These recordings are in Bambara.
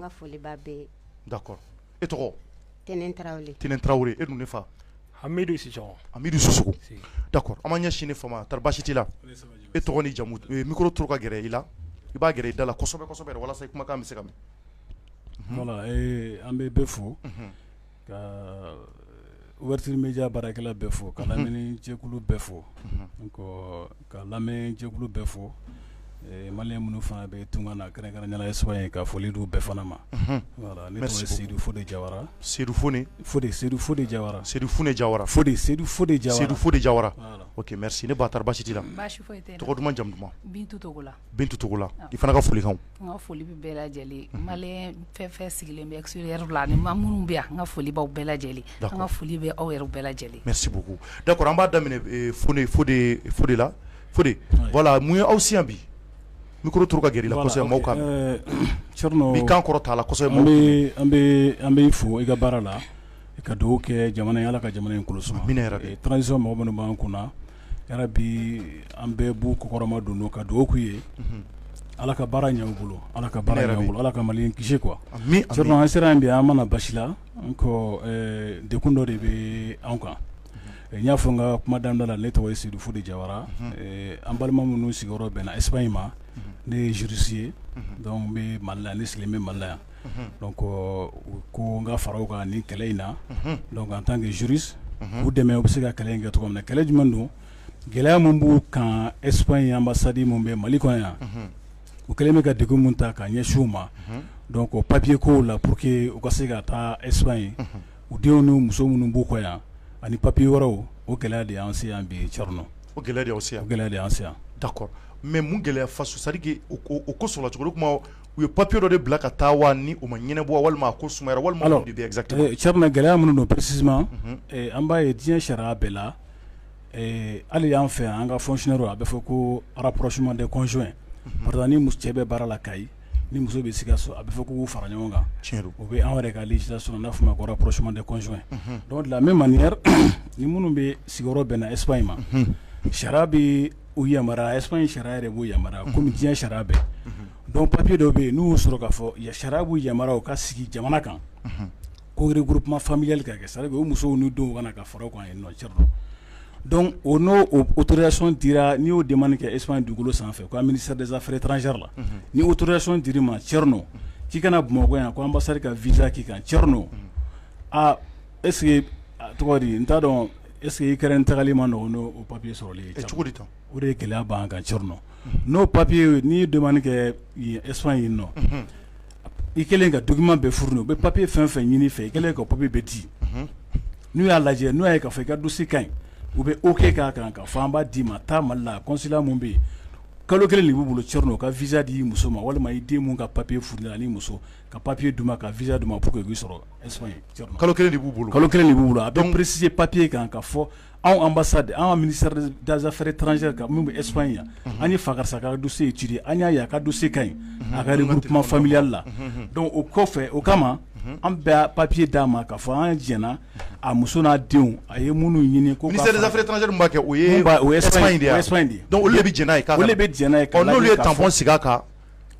ka foli bɛ e tɔgɔ tten tarawele e dun fa hamidu da an ma ɲɛ sini fa taara basi t' la e tɔgɔ ni jamu miro to ka gɛrɛ i la i b'a gɛrɛ i da la walasa kumakan bɛ se ka an bɛ bɛ fo ka ouverture media baarakɛla bɛɛ fo, ka lamɛnni jɛkulu bɛɛ fo, unhun, ka lamɛn jɛkulu bɛɛ fo, ɛɛ maliyɛn minnu fana bɛ tunga la kɛrɛnkɛrɛnnenya la Espagne ka foli d'u bɛɛ fana ma, unhun, voilà ne tɔgɔ ye Sedu Fode Jawara, Sedu Fone, Fode, Sedu Fode Jawara, Sedu Fune Jawara, Fode, Sedu Fode Jawara, Sedu Fode Jawara, voilà, ok, merci ne ba tari baasi t'i la? Baasi fosi tɛ n na, tɔgɔ duman jamu duman? Bintu Togola Bintutola i fana ka folikan ka foli bɛ bɛɛ lajɛlen ma fɛn fɛn sigilen bɛ s la ni ma minnu bɛ an ka foli bɛɛ lajɛlen ka foli bɛ aw yɛrɛ bɛɛ lajɛlen mɛ seguku da an b'a daminɛ fo de la fo wala mun ye aw si bi n kɔrɔ to ka g la kan kɔrɔ t'a la an bɛ fo i ka baara la ka dugawu kɛ jamana ala ka jamana in kɔlɔsi yɛrɛ tanransisa mɔgɔ minnu b'an kunna yarabi an bɛɛ b'u kɔkɔrɔma don ka dugawu k'u ye ala ka baara ɲɛ u bolo ala ka baara ɲɛ u bolo ala ka mali kisi quoi an sera yan bi an ma na basi la ko degun dɔ de bɛ an kan n y'a fɔ n ka kuma daminɛ la ne tɔgɔ ye sedu fode jawara an balima minnu sigiyɔrɔ bɛnna Espagne ma ne ye juriste ye donc n bɛ mali la yan ne sigilen bɛ mali la yan donc ko n ka fara u kan nin kɛlɛ in na donc en tant que juriste u dɛmɛ u bɛ se ka kɛlɛ in kɛ cogo min na kɛlɛ jumɛn don gɛlɛya min b'u kan Espagne ambassade min bɛ mali kɔnɔ yan u kɛlen bɛ ka degun min ta ka ɲɛsin u ma donc papier kow la pour que u ka se ka taa Espagne u denw ni muso minnu b'u kɔ yan ani papier wɛrɛw o gɛlɛya de y'an se yan bi Thierno o gɛlɛya de y'aw se yan o gɛlɛya de y'an se yan d'accord mais mun gɛlɛya façon c'est-à-dire que o ko sɔrɔla cogo jumɛn u ye papier dɔ de bila ka taa wa ni o ma ɲɛnabɔ walima a ko sumayara walima alors mun de bɛ yen exactement alors Thierno gɛlɛya minnu don précisément unhun ee an b'a ye diɲɛ sariya bɛɛ la ee hali an fɛ yan an ka fonctionnairew a bɛ fɔ ko rapprochement des conjoints unhun par exemple ni mus cɛ bɛ baara la Kayi ni muso bɛ Sikasso a bɛ fɔ k'u k'u fara ɲɔgɔn kan tiɲɛ don o bɛ anw yɛrɛ ka législation na n'a bɛ f'o ma ko rapprochement des conjoints unhun donc de la même manière ni minnu bɛ sigiyɔrɔ bɛnna Espagne ma unhun sariya bɛ o yamaruya Espagne sariya yɛrɛ b'o yamaruya kɔmi diɲɛ sariya bɛɛ donc papier dɔ bɛ yen n'u y'o sɔrɔ k'a fɔ yan sariya b'u yamaruya u ka sigi jamana kan ko regroupement familial ka kɛ c'est-à-dire u musow n'u denw ka na ka fara u kan yen nɔ Thierno donc o n'o autorisation dira n'i y'o demande kɛ Espagne dugukolo sanfɛ ko ministère des affaires étrangères la ni autorisation dir'i ma Thierno k'i ka na bamakɔ yan k ko ambassade ka visa k'i kan Thierno aa Est-ce que tɔgɔ di n t'a dɔn est-ce que i kɛra n tagali ma nɔgɔ n'o papiye sɔrɔli ye cogo di o de ye gɛlɛya b'an kan Thierno n'o papiye n'i ye demande kɛ Espagne yan nɔ i kɛlen ka document bɛɛ fourni u bɛ papiye fɛn fɛn ɲini i fɛ i kɛlen ka papiye bɛɛ di n'u y'a lajɛ n'u y'a ye ka fɔ i ka dossier ka ɲi u bɛ OK k'a kan ka fɔ an b'a d'i ma taa mali la consulat min bɛ yen kalo kelen de b'u bolo Thierno u ka visa d'i muso ma walima i den min ka papiye fourni ani muso ka papiye d'u ma ka visa d'u ma pour que k'i sɔrɔ kalo kelen de b'u bolo kalo kelen de b'u bolo a bɛ psi papiye kan ka fɔ anw ansa de an mini danzsɛri tranz kan min bɛ esp in yan an ye fa karisa ka dusu ci an y'a ye a ka don se ka ɲi a ka kuma fanbiyali la dɔnku o kɔfɛ o kama an bɛ papiye d'a ma ka fɔ an diɲɛna a muso n'a denw a ye minnu ɲini ko tanzri kɛ de olu bɛ jɛnɛ ye n'olu ye tanfɔɔn sigi kan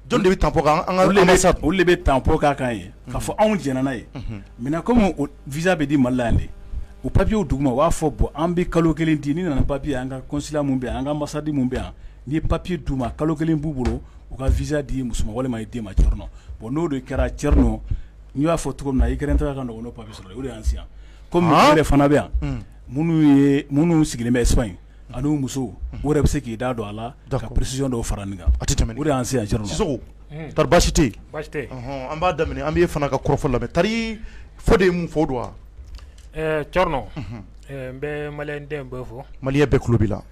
Jɔn de bɛ tampon kan olu de bɛ tampon k'a kan ye ka fɔ anw jɛnna n'a ye maintenant kɔmi visa bɛ di mali la yan de o papiye duguma u b'a fɔ bɔn an bɛ kalo kelen di n'i nana papiye an ka consulat min bɛ yan an ka ambassade min bɛ yan n'i ye papiye d'u ma kalo kelen b'u bolo u ka visa d'i muso ma walima i den ma Thierno bɔn n'o de kɛra Thierno n y'a fɔ cogo min na i kɛra taara ka papiye sɔrɔ o de y'an si yan kɔmi maa de fana bɛ yan minnu minnu sigilen bɛ Espagne ani muso wɛrɛ bɛ se k'i da don a la ka presi dɔw fara min kan tɛbasite an b'a daminɛ an fana ka kɔrɔfɔ la tari fɔ de ye mun fɔ don wa ɛɛ c n bɛ mali den bɛ fɔ mali bɛɛ kubi la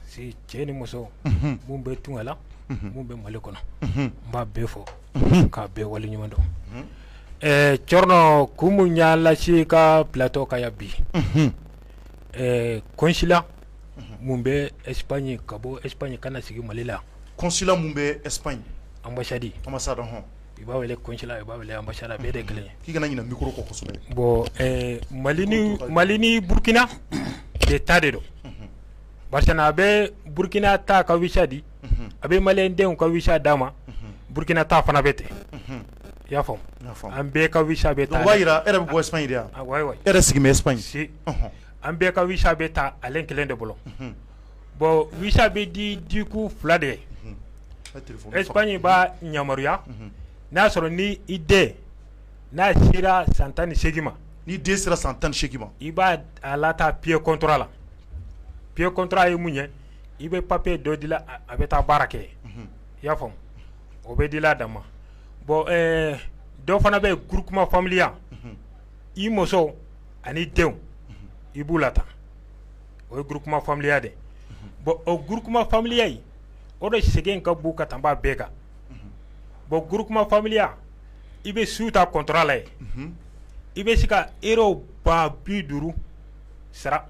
cɛ ni muso minnu bɛ tugla minnu bɛ mali kɔnɔ n b'a bɛɛ fɔ k'a bɛɛ wale ɲuman dɔn ɛɛ c ko minnu y'alasi ka bilatɔ ka bi ɛɛ kosila mun bɛ Espagne ka bɔ Espagne ka na sigi mali la consulat min bɛ Espagne ambassade ambassade hɔn i b'a wele consulat i b'a wele ambassade a bɛɛ de kelen ye k'i kana ɲinɛ micro kɔ kosɛbɛ bɔn mali ni mali ni burukina de ta de don barisa a bɛ burukina ta ka wisa di a bɛ maliyɛn denw ka wisa d'a ma burukina ta fana bɛ ten i y'a faamu an bɛɛ ka wisa bɛ taa o b'a jira e yɛrɛ bɛ bɔ Espagne de wayi e yɛrɛ sigi bɛ Espagne an bɛɛ ka visa bɛ ta ale kelen de bolo bon visa bɛ di ku fila de ye Espagne b'a yamaruya n'a y'a sɔrɔ ni i den n'a sera san tan ni seegin ma ni den sera san tan ni seegin ma i b'a lataa pré-contrat la pré-contrat ye mun ye i bɛ papiye dɔ dilan a bɛ taa baara kɛ i y'a faamu o bɛ dilan a dan ma bɔn dɔ fana bɛ groupement familial i muso ani denw i b'u la tan o ye groupement familial de bɔn o groupement familial in o de sɛgɛn ka bon ka tanb'a bɛɛ kan bɔn groupement familial i bɛ su ta contrat la ye i bɛ se ka euro ba bi duuru sara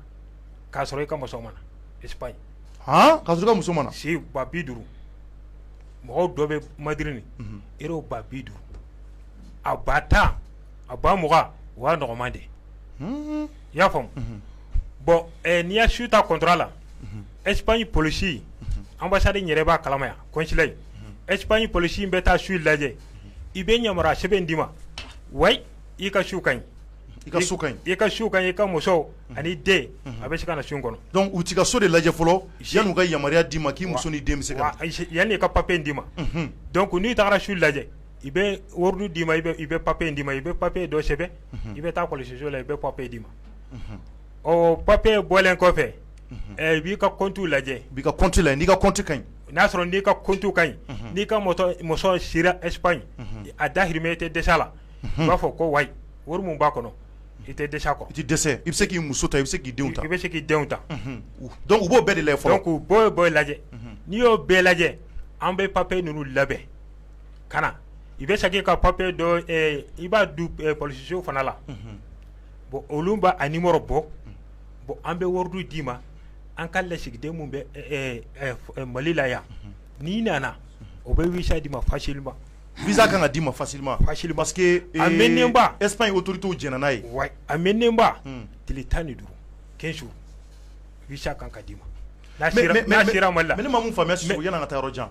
k'a sɔrɔ i ka muso ma na espagne k'a sɔrɔ i ka muso ma na si ba bi duuru mɔgɔw dɔ bɛ madrid ni euro ba bi duuru a ba tan a ba mugan o y'a nɔgɔma de i y'a faamu bɔn n'i ya su ta contrat la espagne polisi anbasadi yɛrɛ b'a kalama yan consulat in espagne polisi in bɛ taa su lajɛ i bɛ yamaruya sɛbɛn in d'i ma wayi i ka su ka ɲi i ka su i ka su ka i ka muso ani den a bɛ se ka na su kɔnɔ dɔnku u b'i ka so de lajɛ fɔlɔ san'u ka yamaruya d'i ma k'i muso ni den bɛ se ka na yan ka papiye in d'i ma dɔnku n'i taara su lajɛ i bɛ ordre d'i ma i i bɛ papiye in d'i ma i bɛ papiye dɔ sɛbɛn i bɛ taa kɔlɔsiso la i bɛ papiye d'i ma o papiye bɔlen kɔfɛ i b'i ka kɔntu lajɛ b'i ka kɔntu lajɛ n'i ka kɔntu ka ɲi n'a sɔrɔ n'i ka kɔntu ka ɲi n'i ka muso sera espagne a dahirimɛ i tɛ dɛsɛ la u b'a fɔ ko wayi wari min b'a kɔnɔ i tɛ dɛsɛ ko i tɛ dɛsɛ i bɛ se k'i muso ta i bɛ se k'i denw ta i bɛ se k'i denw ta dɔnku u b'o bɛɛ de lajɛ fɔlɔ dɔnku u b'o b'o lajɛ n'i y'o bɛɛ lajɛ an bɛ papiye ninnu labɛn ka na i bɛ segin ka papiye don i b'a don polisiso fana la bɔn olu b'a numéro bɔ bɔn an bɛ ordre d'i ma an ka lasigiden min bɛ mali la yan n'i nana o bɛ visa d'i ma facilement visa kan ka d'i ma facilement parce que a ba espagne autorités jɛnna n'a ye wa a mɛnnenba tile tan ni duuru quinze jours visa kan ka d'i ma n'a sera mali la mais ne ma min faamu sisan yann'an ka taa yɔrɔ jan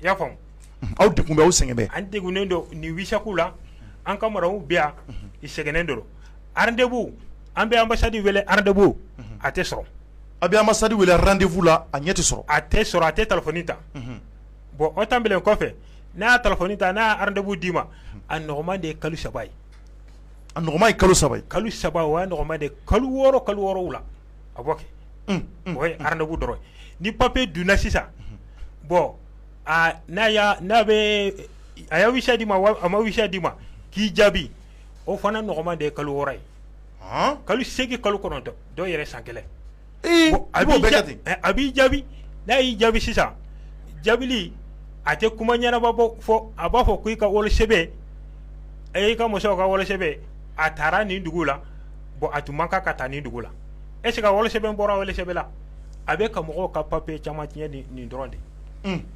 i y'a faamu aw degun bɛ aw sɛgɛn an degunnen don nin visa ko la an ka maraw bɛ yan i sɛgɛnnen don randefu an bɛ anbasadi wele randefu a tɛ sɔrɔ an bɛ anbasadi wele randefu la a ɲɛ tɛ sɔrɔ a tɛ sɔrɔ a tɛ telefɔni ta bɔn o tanbelen kɔfɛ n'a y'a telefɔni ta n'a y'a randefu d'i ma a nɔgɔma de ye kalo saba ye a nɔgɔma ye kalo saba ye kalo saba o y'a nɔgɔma de kalo wɔɔrɔ kalo wolonwula a bɔ kɛ o ye randefu dɔrɔn ni papiye donna sisan bɔn n'a n'a bɛ a ye visa d'i ma a ma visa d'i ma k'i jaabi o fana nɔgɔma de ye kalo wɔɔrɔ ye kalo segin kalo kɔnɔntɔn dɔw yɛrɛ san kelen a a b'i jaabi n'a y'i jaabi sisan jaabili a tɛ kuma ɲɛnama bɔ fo a b'a fɔ ko i ka wolosɛbɛn e i ka muso ka wolosɛbɛn a taara nin dugu la bon a tun man kan ka taa nin dugu la est-ce que wolo sɛbɛn bɔra wolo sɛbɛn la a bɛ ka mɔgɔw ka papier caman tiɲɛ nin dɔrɔn de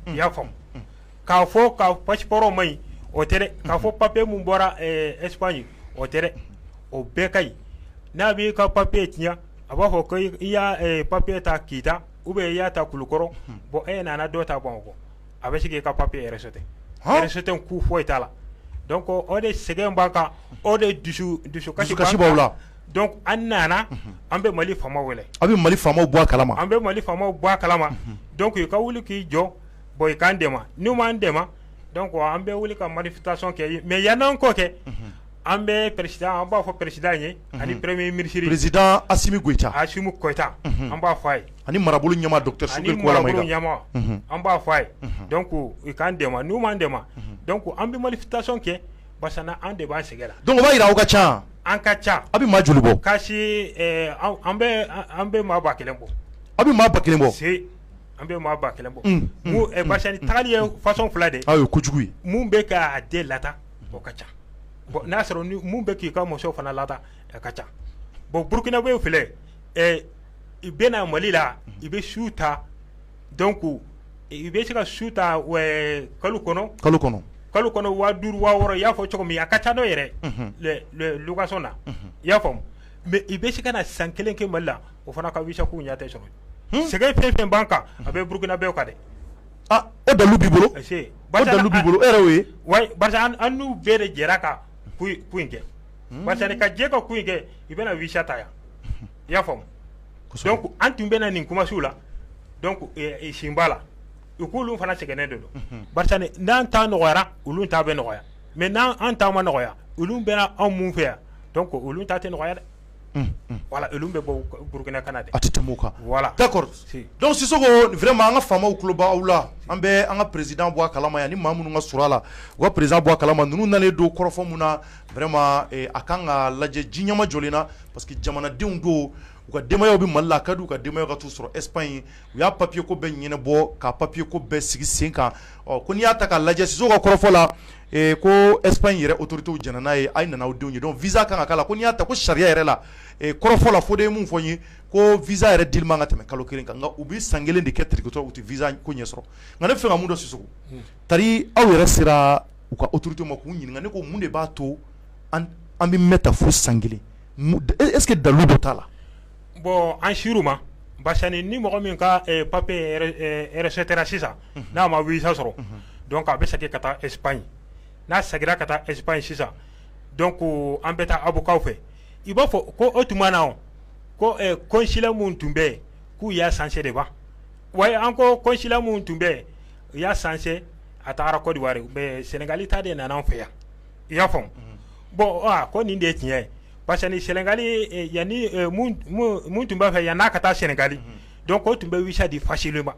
i y'a faamu k'a fɔ ka passeport man ɲi o tɛ dɛ k'a fɔ papier min bɔra Espagne o tɛ dɛ o bɛɛ ka ɲi n'a b'i ka papier tiɲɛ a b'a fɔ ko i y'a papier ta Kita ou bien i y'a ta Kulukɔrɔ bon e nana dɔ ta Bamakɔ a bɛ se k'i ka papier rejeter rejeter kun foyi t'a la donc o de sɛgɛn b'an kan o de dusu dusukasi b'an la donc an nana an bɛ Mali faamaw wele an bɛ Mali faamaw bɔ kala an bɛ Mali faamaw bɔ a kalama donc i ka wuli k'i jɔ bon i k'an dɛmɛ n'i m'an dɛmɛ donc an bɛ wuli ka manifestation kɛ mais yann'an k'o kɛ an bɛ président an b'a fɔ président ye ani premier ministre président Assimi Goïta Assimi Goïta an b'a fɔ a ye ani marabolo ɲɛmaa docteur Sogɛli Kokala Mayiga, ani marabolo ɲɛmaa an b'a fɔ a ye donc u k'an dɛmɛ n'u m'an dɛmɛ donc an bɛ manifestation kɛ barisa an de b'an sɛgɛn la donc o b'a jira aw ka ca, an ka ca, aw bɛ maa joli bɔ, ka se ɛɛ an bɛ an bɛ maa ba kelen bɔ, aw bɛ maa ba kelen bɔ, si an bɛ maa ba kelen bɔ, un un, barisa nin tagali ye façon fila de ye, aa o ye kojugu ye, min bɛ k'a den lataa o ka ca bon n'a y'a sɔrɔ min bɛ k'i ka muso fana lataa o ka ca bon burukinabew filɛ ɛ i bɛ na Mali la i bɛ so ta donc i bɛ se ka so ta kalo kɔnɔ kalo kɔnɔ kalo kɔnɔ waa duuru waa wɔɔrɔ i y'a fɔ cogo min a ka ca n'o yɛrɛ ye location na i y'a faamu mais i bɛ se ka na san kelen kɛ Mali la o fana ka visa ko ɲɛ tɛ sɔrɔ sɛgɛn fɛn fɛn b'an kan a bɛ burukinabew kan dɛ o dalu b'i bolo bolo e ye wa an n'u bɛɛ de jɛra ka ko in kɛ parce que ka jɛ ka ko in kɛ i bɛna visa ta yan i y'a faamu donc an tun bɛna nin kumasiw la donc sen b'a la u k'olu fana sɛgɛnnen de don barisa n'an ta nɔgɔyara olu ta bɛ nɔgɔya mais n'an ta ma nɔgɔya olu bɛna anw mun fɛ yan donc olu ta tɛ nɔgɔya dɛ voilà olu bɛ bɔ Burukina ka na dɛ a tɛ tɛmɛ o kan voilà d'accord donc Sisoko vraiment an ka faamaw tulo bɛ aw la an bɛ an ka président bɔ a kalama yan ni maa minnu ka surun a la u ka président bɔ a kalama ninnu nalen don kɔrɔfɔ mun na vraiment a ka kan ka lajɛ ji ɲɛmajɔlen na parce que jamanadenw don u ka denbayaw bɛ Mali la a ka di u ka denbayaw ka t'u sɔrɔ Espagne u y'a papier ko bɛɛ ɲɛnabɔ ka papier ko bɛɛ sigi sen kan ɔ ko n'i y'a ta k'a lajɛ Sisoko ka kɔrɔfɔ la ko Espagne yɛrɛ autorités jɛna n'a ye a ye na n'aw denw ye donc visa ka kan ka k'a la ko n'i y'a ta ko sariya yɛrɛ la kɔrɔfɔ la Fode ye min fɔ n ye ko visa yɛrɛ dili man kan ka tɛmɛ kalo kelen kan nka u bɛ san kelen de kɛ territoire la u tɛ visa ko ɲɛsɔrɔ nka ne b'a fɛ ka min dɔn Sisoko tari aw yɛrɛ sera u ka autorités ma k'u ɲininka ne ko mun de b'a to an bɛ mɛn ta fo san kelen est-ce que dalu dɔ t'a la bon an ser'u ma parce que ni mɔgɔ min ka papier rejetera sisan n'a ma visa sɔrɔ donc a bɛ segin ka taa Espagne n'a seginna ka taa Espagne sisan donc an bɛ taa avocat fɛ i b'a fɔ ko o tuma na ko consulat min tun bɛ yen k'u y'a changer de wa wa an ko consulat min tun bɛ yen u y'a changer a tagara Côte d'Ivoire mais sɛnɛgali ta de nana an fɛ yan i y'a faamu bon ko nin de ye tiɲɛ ye parce que ni sɛnɛgali yanni min tun b'an fɛ yan n'a ka taa sɛnɛgali donc o tun bɛ visa di facilement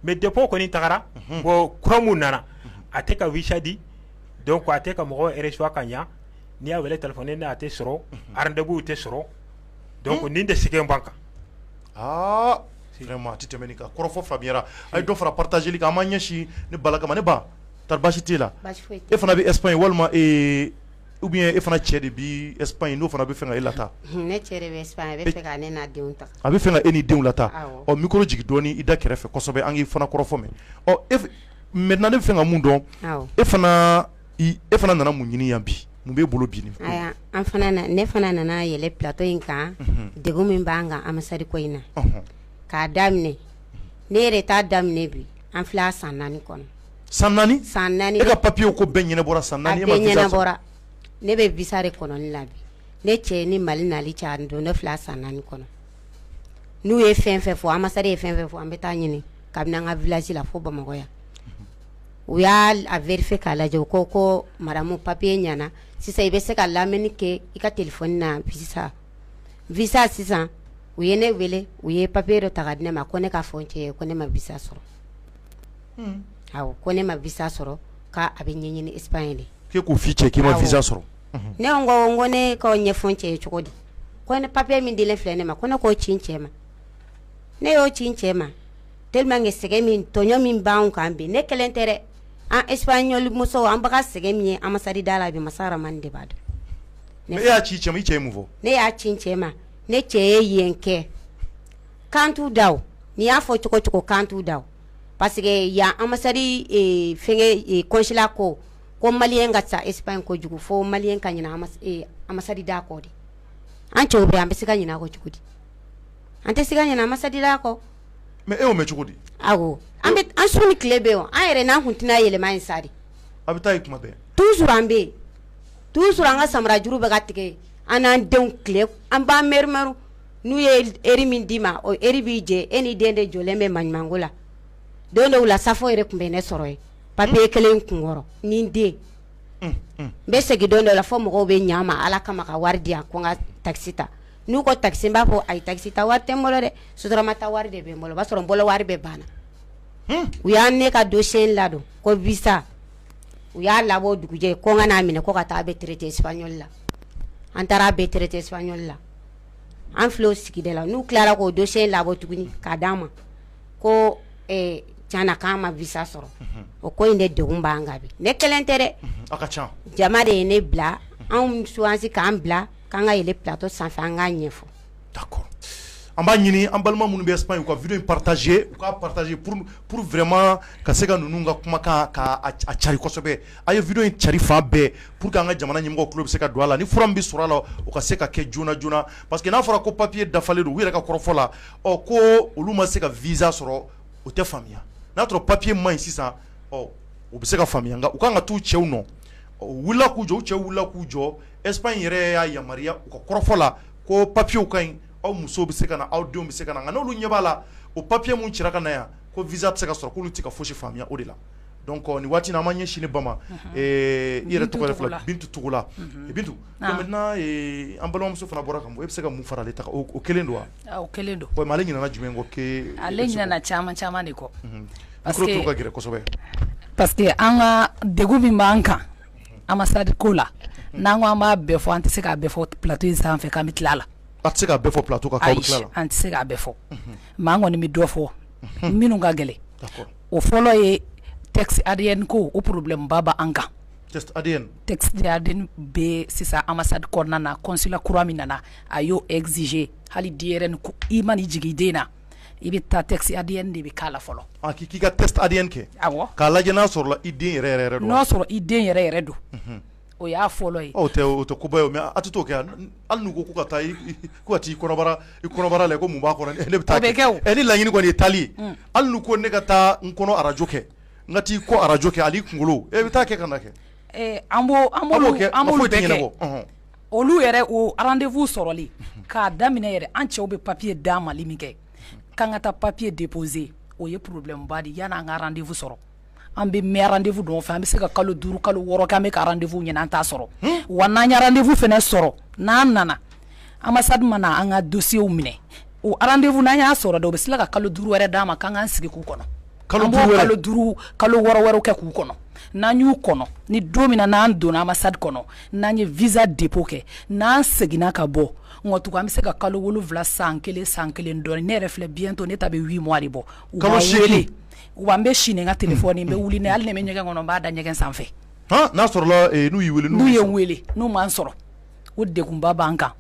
mais depuis o kɔni tagara bon kura min nana a tɛ ka visa di donc a tɛ ka mɔgɔ reçoit ka ɲɛ n'i y'a wele téléphone na a tɛ sɔrɔ rendez-vous tɛ sɔrɔ donc nin de sɛgɛn b'an kan, aa vraiment a tɛ tɛmɛ nin kan, kɔrɔfɔ faamuyara, a ye dɔ fara partager li kan an b'an ɲɛsin ne Bala kama ne ba tari baasi t'e la, baasi foyi tɛ n na, e fana bɛ Espagne walima ee ou bien e fana cɛ de bɛ Espagne n'o fana bɛ fɛ ka e lataa, hun, ne cɛ de bɛ Espagne a bɛ fɛ ka ne n'a denw ta, a bɛ fɛ ka e n'i denw lataa, awɔ, ɔ micro jigin dɔɔnin i da kɛrɛfɛ kosɛbɛ an k'i fana kɔrɔfɔ mɛn, ɔ e maintenant ne bɛ fɛ ka mun dɔn, awɔ, e fana e fana nana mun ɲini yan bi mun b'e bolo bi ne fana nana yɛlɛ plateau in kan degun min b'an kan ambassade ko in na k'a daminɛ ne yɛrɛ ta daminɛ bi an filɛ a san naani kɔnɔ san naani san naani e ka papiye ko bɛɛ ɲɛnabɔra san naani e ma visa sɔrɔ ne bɛ visa de kɔnɔni la bi ne cɛ ni mali nali cɛ don ne filɛ a san naani kɔnɔ n'u ye fɛn fɛn fɔ ambassade ye fɛn fɛn fɔ an bɛ taa ɲini kabini an ka village la fo bamakɔ yan u y'a vérifier k'a lajɛ u ko ko madamu papiye ɲɛna sisan i bɛ se ka lamɛnni kɛ i ka téléphone na visa visa sisan u ye ne wele u ye papiye dɔ ta ka di ne ma ko ne k'a fɔ n cɛ ye ko ne ma visa sɔrɔ ko ne ma visa sɔrɔ k'a bɛ ɲɛɲini Espagne de k'e k'o f'i cɛ k'i ma visa sɔrɔ ne ko ko ne k'o ɲɛfɔ n cɛ ye cogo di ko ne papiye min dilen filɛ ne ma ko ne k'o ci n cɛ ma ne y'o ci n cɛ ma tellement que sɛgɛn min tɔɲɔ min b'an kan bi ne kelen tɛ dɛ an Espagnol musow an bɛ ka sɛgɛn min ye ambassade da la bi Masa Rahamani de b'a dɔn mais e y'a ci cɛ ma i cɛ ye mun fɔ ne y'a ci n cɛ ma ne cɛ ye yen kɛ kan da n'i y'a fɔ cogo cogo kan da parce que yan ambassade consulat ko malien ka ca Espagne kojugu fo malien ka ɲina ambassade da kɔ de an cɛw bɛ an bɛ se ka ɲina a kɔ cogo di an tɛ se ka ɲina ambassade kɔ Mais e y'o mɛn cogo di awɔ an su ni tile bɛ yen an yɛrɛ n'an kun tɛna yɛlɛma yen sa dɛ a bɛ taa yen kuma bɛɛ toujours an bɛ yen toujours an ka samara juru bɛ ka tigɛ an n'an denw tile an b'an mɛrimɛri n'u ye heure min d'i ma o heure b'i jɛ e ni den de jɔlen bɛ maɲumanko la don dɔw la saafo yɛrɛ tun bɛ ne sɔrɔ yen papier kelen kun kɔrɔ ni n den n bɛ segin don dɔ la fo mɔgɔw bɛ ɲɛ n ma ala kama ka wari di yan ko n ka takisi ta n'u ko takisi n b'a fɔ ayi takisi ta wari tɛ n bolo dɛ sotarama ta wari de bɛ n bolo o b'a sɔrɔ n bolo wari bɛɛ banna u ye ne ka dossier ladon ko visa u y'a labɔ dugujɛ ko n ka n'a minɛ ko ka taa a bɛ traité espagnol la an taara a bɛ traité espagnol la an filɛ o sigida la n'u tilara k'o dossier labɔ tuguni k'a d'an ma ko tiɲɛna k'an ma visa sɔrɔ o ko in de degun b'an kan bi ne kelen tɛ dɛ jama de ye ne bila an choisi k'an bila k'an ka yɛlɛ plateau sanfɛ an k'a ɲɛfɔ d'accord an b'a ɲini an balima minnu bɛ Espagne u ka video in partager u k'a partager pour pour vraiment ka se ka ninnu ka kumakan ka a a cari kosɛbɛ a' ye video in cari fan bɛɛ pour que an ka jamana ɲɛmɔgɔw tulo bɛ se ka don a la ni fura min bɛ sɔrɔ a la o ka se ka kɛ joona joona parce que n'a fɔra ko papier dafalen don u yɛrɛ ka kɔrɔfɔ la ɔ ko olu ma se ka visa sɔrɔ o tɛ faamuya n'a sɔrɔ papier man ɲi sisan ɔ u bɛ se ka faamuya nka u ka kan ka t'u cɛw nɔ ɔ u wulila k'u jɔ u cɛw wulila k'u jɔ Espagne yɛrɛ y'a yamaruya u ka kɔrɔfɔ la ko papiyew ka ɲi aw musow bɛ se ka na aw denw bɛ se ka na nka n'olu ɲɛ b'a la o papiye min cira ka na yan ko visa tɛ se ka sɔrɔ k'olu tɛ ka fosi faamuyaya o de la donc nin waati in na an b'an ɲɛsin ba ma i yɛrɛ tɔgɔ filɛ Bintu Togola Bintu maintenant an balimamuso fana bɔra kan e bɛ se ka mun fara ale ta kan o kelen don wa o kelen don mais ale ɲinana jumɛn kɔ kɛ ale ɲinana caman caman de kɔ ka gɛlɛn kosɛbɛ parce que an ka degun min b'an kan ambassade ko la n'an ko an b'a bɛɛ fɔ an tɛ se k'a bɛɛ fɔ plateau in sanfɛ k'an bɛ tila a la an tɛ se k'a fɔ plateau an tɛ se k'a bɛɛ fɔ mais an kɔni bɛ dɔ fɔ minnu ka gɛlɛn o fɔlɔ ye test ADN ko o problème ba b'an kan bɛ sisan ambassade kɔnɔna na consulat kura min nana a y'o exiger hali denyɛrɛnin ko i mana jigin den na i bɛ taa test ADN de bɛ k'a la fɔlɔ k'i ka test ADN kɛ awɔ k'a lajɛ n'a sɔrɔla i den yɛrɛ don n'a sɔrɔ i den yɛrɛ yɛrɛ don o y'a fɔlɔ ye o tɛ koba ye mais a tɛ t'o kɛ hali n'u ko ka taa ka t'i kɔnɔbara la ko mun b'a kɔnɔ ne bɛ taa kɛ ne laɲini kɔni ye taali ye hali n'u ko ne ka taa n kɔnɔ arajo kɛ n ka t'i kɔ arajo kɛ hali kunkolo ne bɛ taa kɛ ka kɛ an b'o kɛ an tɛ ɲɛna olu yɛrɛ o rendez-vous sɔrɔli k'a daminɛ yɛrɛ an cɛw bɛ papier d'a ma li min kɛ k'an ka taa papier déposer o ye problème ba de ye yann'an ka rendez-vous sɔrɔ an bɛ mɛn rendez-vous nɔfɛ an bɛ se ka kalo duuru kalo wɔɔrɔ kɛ an bɛ ka rendez-vous ɲini an t'a sɔrɔ wa n'an ye rendez-vous fana sɔrɔ n'an nana ambassade mana an ka dossiers minɛ o rendez-vous n'an y'a sɔrɔ dɛ u bɛ tila ka kalo duuru wɛrɛ d'an ma k'an k'an sigi k'u kɔnɔ kalo duuru kalo wɔɔrɔ wɛrɛ kɛ k'u kɔnɔ n'an y'u kɔnɔ ni don min na n'an donna ambassade kɔnɔ n'an ye visa dépôt kɛ n'an seginna ka bɔ nɔ tugun an bɛ se ka kalo wolowula san kelen san kelen dɔɔnin ne yɛrɛ filɛ bientôt ne ta bɛ huit mois de bɔ wa n bɛ si ni n ka téléphone n bɛ wuli ni hali ne bɛ ɲɛgɛn kɔnɔ n b'a da ɲɛgɛn sanfɛ n'a sɔrɔ n'u n'u ye n wele n'u ma n sɔrɔ o degunba b'an kan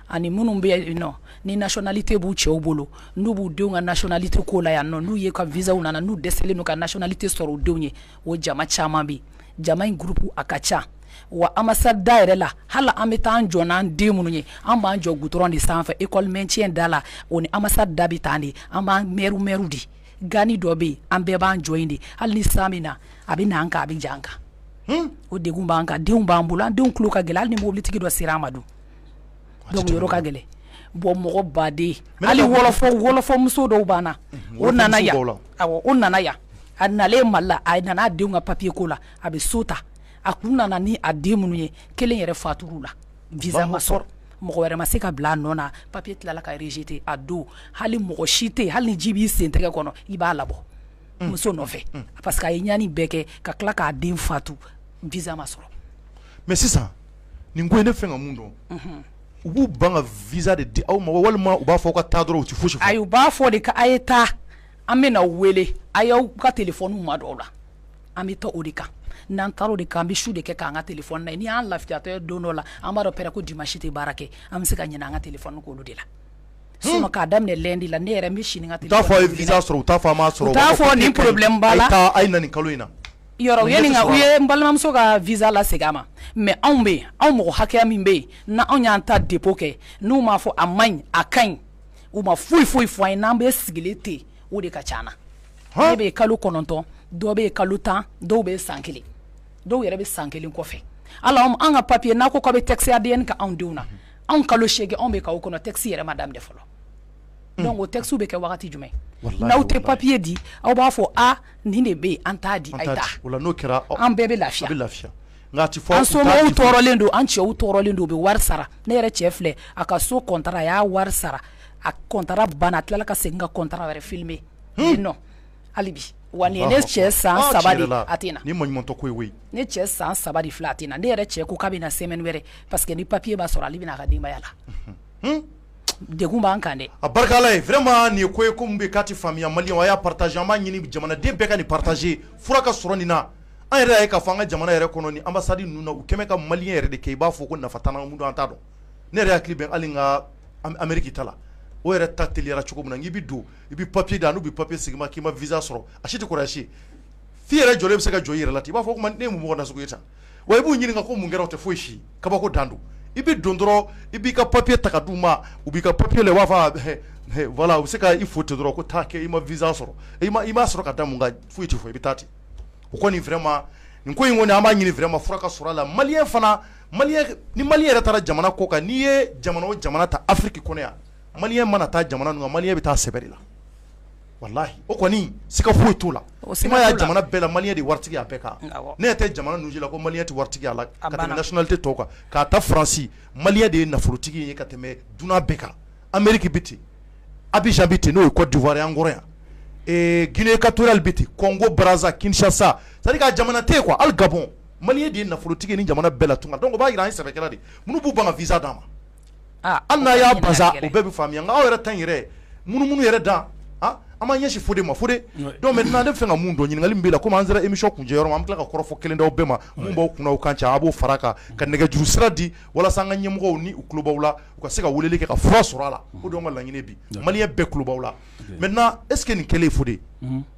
ani minnu bɛ yen nɔ ni nationalité b'u cɛw bolo n'u b'u denw ka nationalité ko la yan nɔ n'u yɛrɛ ka visaw nana n'u dɛsɛlen don ka nationalité sɔrɔ u denw ye o jama caman bɛ yen jama in groupe a ka ca wa ambassade da yɛrɛ la hali an bɛ taa an jɔ n'an den minnu ye an b'an jɔ goudron de sanfɛ école maintien da la o ni ambassade da bɛ tan de an b'an mɛriw mɛriw de gani dɔ bɛ yen an bɛɛ b'an jɔ yen de hali ni san bɛ na a bɛ na an kan a bɛ ja an kan o degun b'an kan denw b'an bolo an denw tulo ka gɛlɛn hali ni mobilitigi dɔ sera an ma dun ka gɛlɛn bon mɔgɔ baden hali wɔlɔfɔ muso dɔ b'an na o nana o nana yan a nalen Mali la a nana a denw ka papier ko la a bɛ so ta a kun nana ni a den minnu ye kelen yɛrɛ fatur'u la visa ma sɔrɔ mɔgɔ wɛrɛ ma se ka bila a nɔ na papier tilala ka rejeter a don hali mɔgɔ si tɛ hali ni ji b'i sen tɛgɛ kɔnɔ i b'a labɔ mm. muso nɔfɛ mm. parce que a ye ɲani bɛɛ kɛ ka tila k'a den fatu visa ma sɔrɔ mais sisan nin ko in ne fɛ n ka mun dɔn u b'u ban ka visa de di aw ma walima u b'a fɔ ka taa dɔrɔn u tɛ fosi fɔ ayi u b'a fɔ de a ye taa an bɛna aw wele a y'aw ka téléphone madon aw la an bɛ taa o de kan n'an taara o de kan an bɛ su de kɛ k'an ka téléphone lajɛ n'i y'an lafiyatɔ ye don dɔ la an b'a dɔn pɛrɛ ko dimanche tɛ baara kɛ an bɛ se ka ɲinɛ an ka téléphone kɔ olu de la sinon k'a daminɛ lundi la ne yɛrɛ n bɛ si ni n ka téléphone ye u t'a fɔ a ye visa sɔrɔ u t'a fɔ a m'a sɔrɔ u t'a fɔ nin problème b'a la a ye taa a ye na nin kalo in na ye n balimamuso ka visa lasegin a ma mais anw bɛ anw mɔgɔ hakɛya min bɛ yen anw y'an ta dépôt kɛ n'u m'a fɔ a man ɲi a ka ɲi u ma foyi foyi fɔ an ye n'an bɛ sigilen ten o de ka ca an na dɔw bɛ kalo kɔnɔntɔn dɔw bɛ kalo tan dɔw bɛ san kelen dɔw yɛrɛ bɛ san kelen kɔfɛ ala an ka papier n'a ko u bɛ test ADN kɛ anw denw na anw kalo seegin anw bɛ k'u kɔnɔ test yɛrɛ ma daminɛ fɔlɔ o texte bɛ kɛ waati jumɛn n'aw tɛ papiye di aw b'a fɔ a nin de bɛ yen an t'a di n'o kɛra an bɛɛ bɛ lafiya nka a tɛ fɔ an somɔgɔw tɔɔrɔlen don an cɛw tɔɔrɔlen don u bɛ wari sara ne yɛrɛ cɛ filɛ a ka so contrat a y'a wari sara a contrat banna a tilala ka segin ka contrat wɛrɛ firmer non hali bi wa ne cɛ san saba a tɛ na ne cɛ san saba filɛ a tɛ na ne yɛrɛ cɛ ko k'a bɛ na semaine wɛrɛ parce que ni papiye b'a sɔrɔ ale bɛ na a ka denbaya la degun b'an kan dɛ a barika Ala ye vraiment nin ye ko ye ko min bɛ k'a tɛ faamuya maliyɛnw a y'a partager an b'a ɲini jamanaden bɛɛ ka nin partager fura ka sɔrɔ nin na an yɛrɛ ye ka fɔ an ka jamana yɛrɛ kɔnɔ ambassade ninnu na u kɛmɛ ka maliyɛn yɛrɛ de kɛ i b'a fɔ ko nafa t'an na an t'a dɔn ne yɛrɛ hakili bɛ hali n ka Amérique ta la o yɛrɛ ta teliyara cogo min na n'i bɛ don i bɛ papiye da n'u bɛ papiye segin i ma k'i ma visa sɔrɔ a si tɛ kɔrɔsi f'i yɛrɛ jɔlen bɛ se ka jɔn i yɛrɛ la i b'a fɔ ko ne ye mun mɔgɔ nasugu ye sa wa i b'u ɲininka ko mun kɛra o tɛ foyi si kabako dan don i bɛ don dɔrɔn i b'i ka papiye ta ka d'u ma u b'i ka papiye la i b'a fɔ voilà u bɛ se ka i fo ten dɔrɔn ko taa kɛ i ma visa sɔrɔ i i m'a sɔrɔ ka da mun kan foyi tɛ fɔ i bɛ taa ten o kɔni vraiment nin ko in kɔni an b'a ɲini vraiment fura ka sɔrɔ a la maliyɛn fana ni maliyɛn yɛrɛ taara jamana kɔkan n'i ye jamana o jamana ta afiriki kɔnɔ yan maliyɛn mana taa jamana ninnu kan maliyɛn bɛ taa sɛbɛ de la walahi o kɔni siga foyi t'o la o siga t'o la i m'a ye jamana bɛɛ la maliyɛn de ye waritigi ye a bɛɛ kan awɔ ne ɲɛ tɛ jamana ninnu si la ko maliyɛn tɛ waritigi ye a la a banna ka tɛmɛ nationalité tɔw kan k'a ta France maliyɛn de ye nafolotigi ye ka tɛmɛ dunan bɛɛ kan Amérique bɛ ten Abidjan bɛ ten n'o ye Côte d'Ivoire ye an kɔrɔ yan ee Guinée équatoriale bɛ ten Congo Brazza Kinshasa c'est à dire que a jamana tɛ yen quoi hali Gabon maliyɛn de ye nafolotigi ye nin jamana bɛɛ la tunga donc o b'a jira an ye sɛbɛkɛla de ye minnu b'u ban ka visa d'an ma Hali n'u y'a ban o bɛɛ bɛ faamuya nka aw yɛrɛ ta in yɛrɛ munumunu yɛrɛ dan an b'an ɲɛsin Fode ma Fode ne b'a fɛ ka min dɔn ɲininkali min b'i la komi an sera émission kuncɛ yɔrɔ ma an bɛ tila ka kɔrɔfɔ kelen d'aw bɛɛ ma min b'aw kun kan ca a b'o fara a kan ka nɛgɛjuru sira di walasa an ka ɲɛmɔgɔw ni u tulo b'aw la u ka se ka weleli kɛ ka fura sɔrɔ a la o de y'an ka laɲini bi maliyɛn bɛɛ tulo b'aw la maintenant est ce que nin kɛlen Fode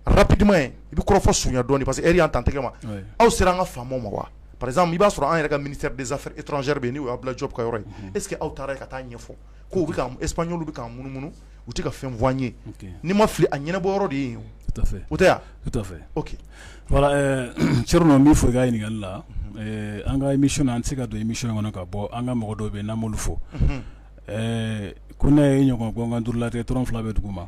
rapidement i bɛ kɔrɔfɔ surunya dɔɔni parce que heure y'an tantigɛ ma aw sera an ka faamaw ma wa par exemple i b'a sɔrɔ an yɛrɛ ka ministère des affaires étrangères bɛ yen n'o ye Abdoulaye Diop ka yɔrɔ ye est ce que aw taara yen ka taa a ɲɛfɔ k'u bɛ Espagnolw bɛ k'an munumunu u tɛ ka fɛn fɔ an ye ni n ma fili a ɲɛnabɔ yɔrɔ de ye o tɛ yan tout à fait ok voilà Thierno min fɔ i ka ɲininkakali la an ka émission na an tɛ se ka don émission kɔnɔ ka bɔ an ka mɔgɔ dɔw bɛ yen n'an m'olu fo ko ne ye ɲɔgɔn gangan duuruuru la dɔrɔn fila bɛ dugu ma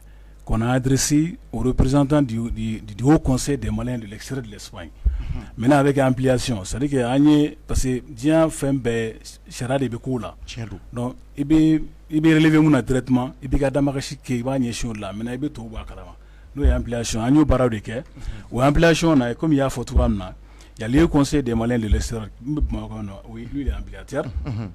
kɔnɔdrisi o ye pereztan dugu kɔnse de ma de sira de ye mɛ n'a bɛ kɛ an psi sarike an ye parce que diɲɛ fɛn bɛɛ sariya de bɛ ko la i bɛ bɛ min na dɛrɛti i bɛ ka damasi kɛ i b'a ɲɛ si la mɛ i bɛ to bɔ kala n'o y'an bilasi an y'o baara de kɛ o anan bilasi na ye kɔmi y'a fɔ tu min na ya ye kɔnse de ma de sira bamakɔ na o ye yan bi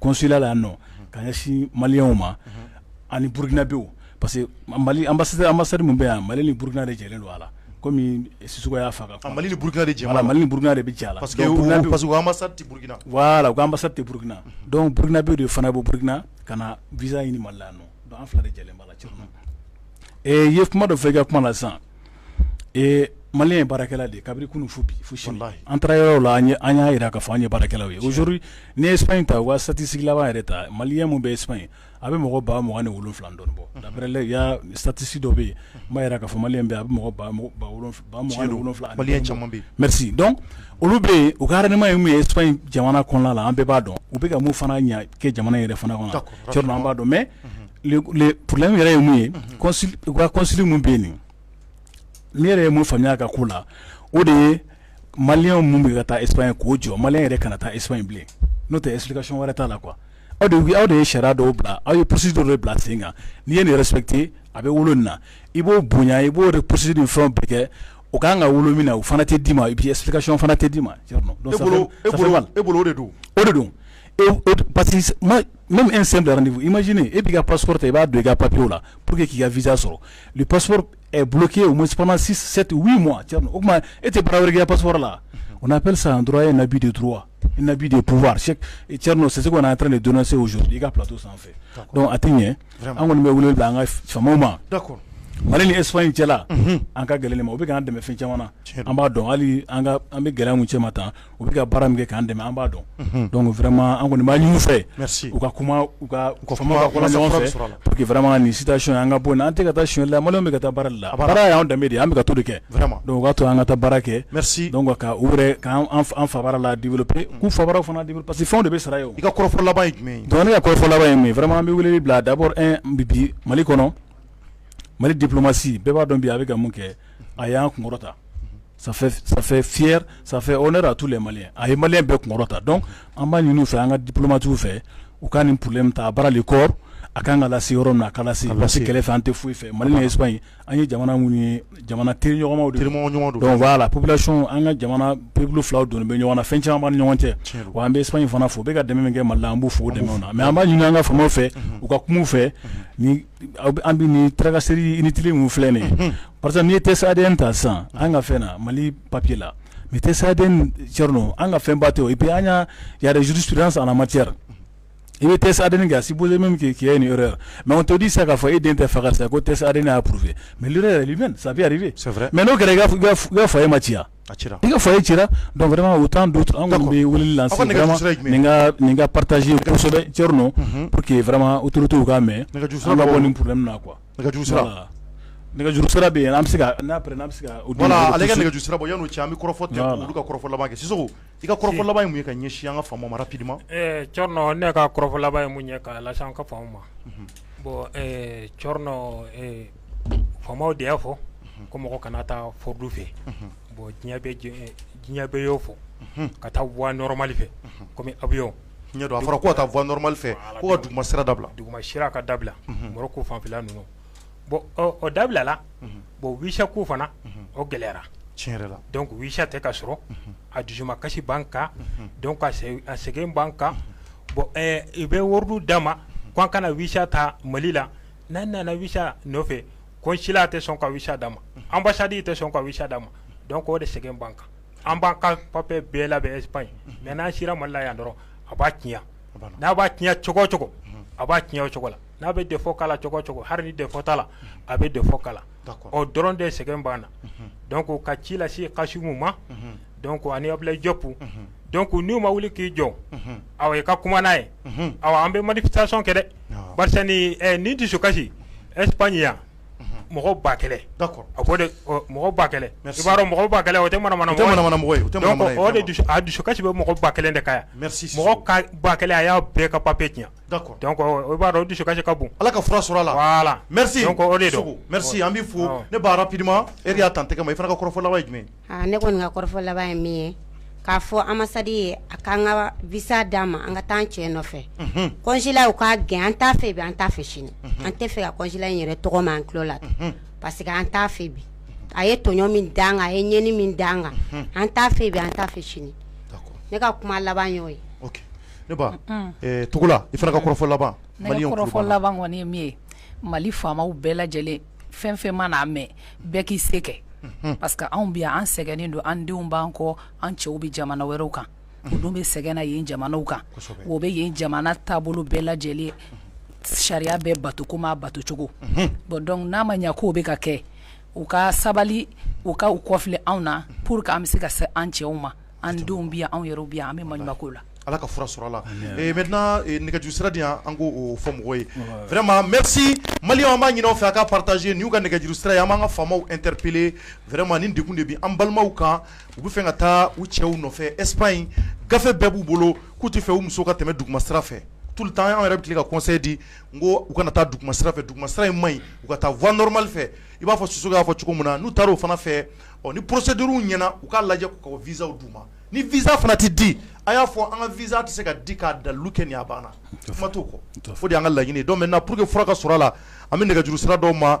consulat la nɔ ka ɲɛsin maliyɛnw ma ani burukinabew parce que mali ambassade min bɛ yan mali ni burukina de jɛlen don a la kɔmi Sisɔkɔ y'a fɔ ko mali ni burukina de jɛ mali ni burukina de bɛ jɛ a la parce que ambassade tɛ burukina voilà u ka ambassade tɛ burukina donc burukinabew de fana bɔ burukina ka na visa ɲini mali la yan nɔ donc an fila de jɛlen b'a la Thierno e ye kuma dɔ fɔ i ka kuma na sisan maliyɛn ye baarakɛla de kabiri kunun fo bi fo sini an taara yɔrɔ la an an y'a jira k'a fɔ an ye baarakɛlaw ye aujourd'hui n'i ye Espagne ta u ka statistique laban yɛrɛ ta maliyɛn min bɛ Espagne a bɛ mɔgɔ ba mugan ni wolonwula dɔɔni bɔ d'après il y a statistique dɔ bɛ yen min b'a yira k'a fɔ maliyɛn bɛ a bɛ mɔgɔ wolonwula merci donc olu bɛ yen u ka rendement ye min ye Espagne jamana kɔnɔna la an bɛɛ b'a dɔn u bɛ ka mun fana ɲɛ kɛ jamana yɛrɛ fana kɔnɔ an b'a dɔn mais le problème yɛrɛ ye mun ye u ka consul min bɛ yen ne yɛrɛ ye mun faamuya a ka ko la o de ye maliyɛn minnu bɛ ka taa Espagne k'o jɔ maliyɛn yɛrɛ kana taa Espagne bilen n'o tɛ explication wɛrɛ t'a la quoi aw de aw de ye sariya dɔw bila aw ye procédure dɔw bila sen kan n'i ye nin respecter a bɛ wolo min na i b'o bonya i b'o procédure ni fɛn bɛɛ kɛ o kan ka wolo min na o fana tɛ d'i ma et puis explication fana tɛ d'i ma donc e bolo o de don o de don Mɛ e sen da nin i ma sini e bɛ ka pas ta i b'a don i ka papiye la p que k'i ka vz sɔrɔ pas bulonke o musosɛte wu ma o tuma e tɛ barawuya pas la o na p san dɔrɔn ye nabi de duuru nabi de pwa cɛ n'o sisanse ka n'a taara nin donna se s i ka pto sanfɛ a tɛ ɲɛ an kɔni bɛ wele bila an ka faw ma mali ni esfa in cɛla an ka gɛlɛn ma o bɛ ka dɛmɛfɛn caman an b'a dɔn hali an bɛ gɛlɛya cɛ ma tan u bɛ ka baara min kɛ k'an dɛmɛ an b'a dɔn donc vraiment an kɔni b'a ɲini u fɛ u ka kuma u ka faama ɲɔgɔn fɛ pour que vraiment nin situation in an ka bɔ nin an tɛ ka taa sonyali la maliyɛnw bɛ ka taa baara de la baara y'an danbe de ye an bɛ ka to de kɛ vraiment donc o k'a to an ka taa baara kɛ donc ka u yɛrɛ k'an fa baara la développer k'u fa baaraw fana développer parce que fɛnw de bɛ sara ye o i ka kɔrɔfɔ laban ye jumɛn ye donc ne ka kɔrɔfɔ laban ye min ye vraiment an bɛ weleli bila d'abord un bi Mali kɔnɔ Mali diplomatie bɛɛ b'a dɔn bi a bɛ ka mun kɛ a y'an kunkɔrɔta ça fait ça fait fier ça fait honneur à tous les Maliens a ye Malien bɛɛ kunkɔrɔta donc an b'a ɲini u fɛ an ka diplomates fɛ u ka nin problème ta à bras le corps a kan ka lase yɔrɔ min na a ka lase parce que kɛlɛ fɛ an tɛ foyi fɛ Mali ni Espagne an ye jamana minnu ye jamana teriɲɔgɔnmaw de don teriɲɔgɔn ɲumanw don donc voilà population an ka jamana peuples filaw donnen bɛ ɲɔgɔn na fɛn caman b'an ni ɲɔgɔn cɛ tiɲɛ don wa an bɛ Espagne fana fo u bɛ ka dɛmɛ min kɛ Mali la an b'u fo o dɛmɛw na mais an b'a ɲini an ka faamaw fɛ u ka kuma u fɛ ni an bɛ ni taararakanse i ni tile min filɛ nin parce que n'i tɛ sa den ta san an ka fɛn na mali papi la nin tɛ sa den cɛ an ka fɛn ba to i bɛ an ka yazurus san ma cɛyara i bɛ tɛ sa den kɛ si bolo min kɛ k'i ni yɔrɔ mɛ ma todi sa k'a fɔ e den tɛ faga sa ko tɛ sa' purfɛ mɛ yɛrɛ sa mɛ n'o kɛra i fa e ma ci A ci la, i ka foyer ci la donc vraiment autant d'autres an kɔni bɛ weleli lancé, aw ka nɛgɛjuru sira ye jumɛn ye, vraiment nin ka partager kosɛbɛ Thierno, unhun, pour que vraiment autorités u k'a mɛn, nɛgɛjuru sira, an ka bɔ nin problème na quoi, nɛgɛjuru sira, voilà, nɛgɛjuru sira bɛ yen an bɛ se ka n'a après n'an bɛ se ka, voilà ale ka nɛgɛjuru sira bɔ yanni o cɛ an bɛ kɔrɔfɔ tigɛ ka olu ka kɔrɔfɔ laban kɛ Sisoko i ka kɔrɔfɔ laban ye mun ye ka ɲɛsin an ka faamaw ma rapidement, ɛɛ Thierno ne ka kɔrɔfɔ laban ye mun ye ka lase an ka faamaw ma, unhun, bon ɛɛ Thierno ee faamaw de y'a fɔ ko mɔgɔ kana taa fraude fɛ bon diɲɛ bɛɛ y'o fɔ ka taa voie normale fɛ comme avion ɲɛ don a fɔra ko ka taa voie normale fɛ ko ka duguma sira dabila duguma sira ka dabila Maroc fanfɛla ninnu bon o dabilala bon visa ko fana o gɛlɛyara tiɲɛ yɛrɛ la donc visa tɛ ka sɔrɔ a dusuma kasi b'an kan donc a sɛgɛn b'an kan bon i bɛ ordre d'a ma k' an kana visa ta Mali la n'an nana visa nɔfɛ consulat tɛ sɔn ka visa d'a ma, unhun, ambassade tɛ sɔn ka visa d'a ma donc o de sɛgɛn b'an kan, an b'an ka papier bɛɛ labɛn Espagne mais n'an sera Mali la yan dɔrɔn a b'a tiɲɛ, n'a b'a tiɲɛ cogo o cogo a b'a tiɲɛ o cogo la, n'a bɛ défaut k'a la cogo o cogo hali ni défaut t'a la a bɛ défaut k'a la, d'accord o dɔrɔn de sɛgɛn b'an na, unhun, donc ka ci lase Kasimu ma, unhun dɔn ko ani abuyi jɔp dɔn ko n'u ma wuli k'i jɔ aw i ka kuma n'a ye aw an bɛ mali sa sɔn kɛ dɛ ni dusu kasisi esp ɲi yan mɔgɔ ba kɛlɛ a mɔgɔ ba kɛlɛ b'a mɔgɔ ba kɛlɛ o tɛ manamana dusu a dusu kasisi bɛ mɔgɔ ba kelen de ka yan mɔgɔ ka ba kɛlɛ a y'a bɛɛ ka papiye tiɲɛ o b'a dɔn dusu kasisi ka bon ala ka fura sɔrɔ la mɛ an bɛ fɔ ne' pdima e y'a tan tɛgɛ ma i fana ka kɔrɔfɔfɔlɔ jumɛn Aa ne kɔni ka kɔrɔfɔ laban ye min ye k'a fɔ ambassade ye a k'an ka visa d'an ma an ka taa an cɛ nɔfɛ, unhun, consulat u k'a gɛn an t'a fɛ bi an t'a fɛ sini, unhun, an tɛ fɛ ka consulat in yɛrɛ tɔgɔ mɛn an tulo la, unhun, parce que an t'a fɛ bi, a ye tɔɲɔn min da an kan, a ye ɲɛni min da an kan, unhun, an t'a fɛ bi an t'a fɛ sini, d'accord, ne ka kuma laban y'o ye, ok, ne ba, un, ɛɛ Togola, i fana ka kɔrɔfɔ laban, ne ka kɔrɔfɔ laban kɔni ye min ye Mali faamaw bɛɛ lajɛlen fɛn fɛn mana a mɛn bɛɛ k'i se kɛ parce que anw bɛ yan an sɛgɛnnen don an denw b'an kɔ an cɛw bɛ jamana wɛrɛw kan u dun bɛ sɛgɛn na yen jamanaw kan o bɛ yen jamana taabolo bɛɛ lajɛlen sariya bɛɛ bato comme a batocogo bon donc n'a ma ɲɛ k'o bɛ ka kɛ u ka sabali u ka u kɔfilɛ anw na pour que an bɛ se ka se an cɛw ma an denw bɛ yan anw yɛrɛ bɛ yan an bɛ maɲumanko la ala ka fura sɔrɔ a la maintenant nɛgɛjuru sira di yan an k'o fɔ mɔgɔw ye vraiment merci Maliens an b'a ɲini aw fɛ a ka partager nin y'u ka nɛgɛjuru sira ye an b'an ka faamaw interpeller vraiment nin degun de bɛ an balimaw kan u bɛ fɛ ka taa u cɛw nɔfɛ Espagne gafe bɛɛ b'u bolo k'u tɛ fɛ u musow ka tɛmɛ duguma sira fɛ tout le temps an yɛrɛ bɛ ka conseil di n ko u kana taa duguma sira fɛ duguma sira in man ɲi u ka taa voie normale fɛ i b'a fɔ Sisoko y'a fɔ cogo min na n'u taara o fana fɛ ɔ ni procédure ɲɛna u k'a lajɛ k'u ka visaw d'u ma ni visa fana tɛ di a y'a fɔ an ka visa tɛ se ka di k'a dalilu kɛ nin a banna kuma t'o kɔ o de y'an ka laɲini donc maintenant pour que fura ka sɔrɔ a la an bɛ nɛgɛjuru sira dɔw ma